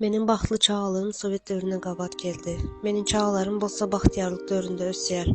Meniň bagtly çagalygym sowet döwründen gabat geldi. Meniň çagalarym bolsa bagtyýarlyk döwründe ösýär.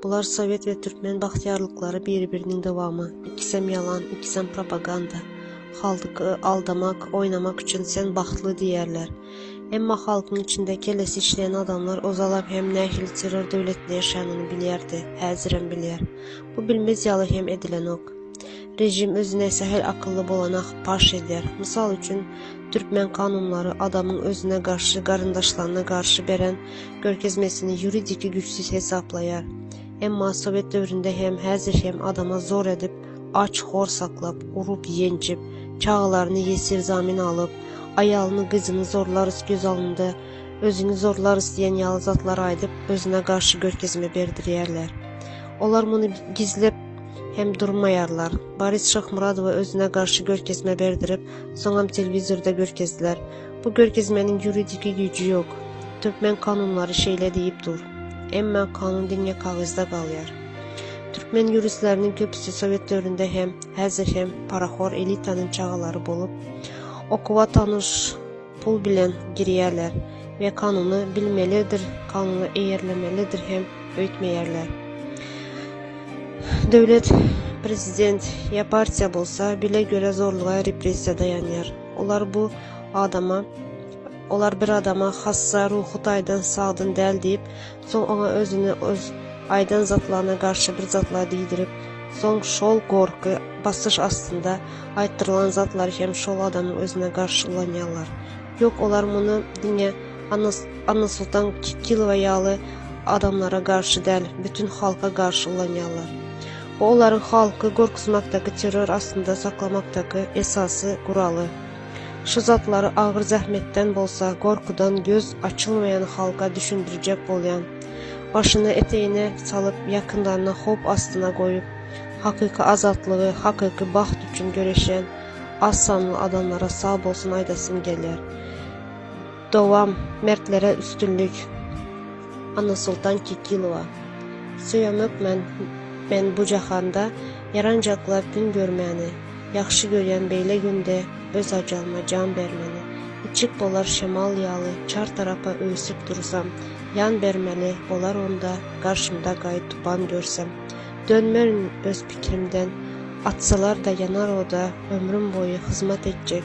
Bular sowet we türkmen bagtyýarlyklary biri-biriniň dowamy. Ikisem ýalan, ikisem propaganda. Halk y aldamak, oýnamak üçin sen bagtly diýýärler. Emma halkyň içinde kellesi işleýän adamlar ozalam hem nähili terror döwletinde ýaşanyny bilýärdi, häzirem bilýär. Bu bilmez ýaly hem edilenok. Rejim özüne sähel akylly bolana paş edýär. Mysal üçin, türkmen kanunlary adamyň özüne garşy, garyndaşlaryna garşy beren görkezmesini ýuridiki güýçsüz hesaplaýar. Emma sowet döwründe hem, häzir hem adama zor edip, aç, hor saklap, urup, ýenjip, çagalaryny ýesir zamin alyp, aýalyny, gyzyny zorlarys göz alnynda, özüňi zorlarys diýen ýaly zatlar aýdyp, özüne garşy görkezme berdirýärler. Olar muny gizlep, hem durmaýarlar. Boris Şahmuradowa özüne garşy görkezme berdirip, soňam telewizorda görkezdiler. Bu görkezmeniň ýuridiki güýji ýok. Türkmen kanunlary şeýle diýip dur. Emma kanun diňe kagyzda galýar. Türkmen ýuristleriniň köpüsi sowet döwründe hem, häzir hem parahor elitanyň çagalary bolup, okuwa tanyş pul bilen girýärler we kanuny bilmelidir, kanuna eýerlemelidir hem öýtmeýärler. Döwlet, prezident ýa partiýa bolsa bile göre zorluga repressiýa daýanýar. Olar bu adama olar bir adama hassa, ruhy taýdan sagdyn däl diýip, Soň oňa özüni öz aýdan zatlaryna garşy bir zatlar diýdirip, soň şol gorky, basyş astynda aýtdyrylan zatlary hem şol adamyň özüne garşy ulanýarlar. Ýok, olar muny diňe Annasoltan Kilowa ýaly adamlara garşy däl, bütin halka garşy ulanýarlar. Bu olaryň halky gorkuzmakdaky, terror astynda saklamakdaky esasy guraly. Şu zatlary agyr zähmetden bolsa gorkudan göz açylmaýan halka düşündirjek bolýan. Başyny eteýine salyp ýakynlaryny howp astyna goýup, hakyky azatlygy, hakyky bagt üçin göreşýän az sanly adamlara sag bolsun aýdasym gelýär. Dowam Mertlere üstünlik Annasoltan Kekilowa Söýemok men men bu jahanda Ýaranjaklap gün görmäni Ýagşy görýän beýle günde Öz ajalyma jan bermeni Içip bolar şemal ýaly Çar tarapa öwsüp dursam Ýan bermeli bolar onda Garşymda gaý tupan görsem Dönmerin öz pikrimden Atsalar-da ýanar oda Ömrüm boýy hyzmat etjek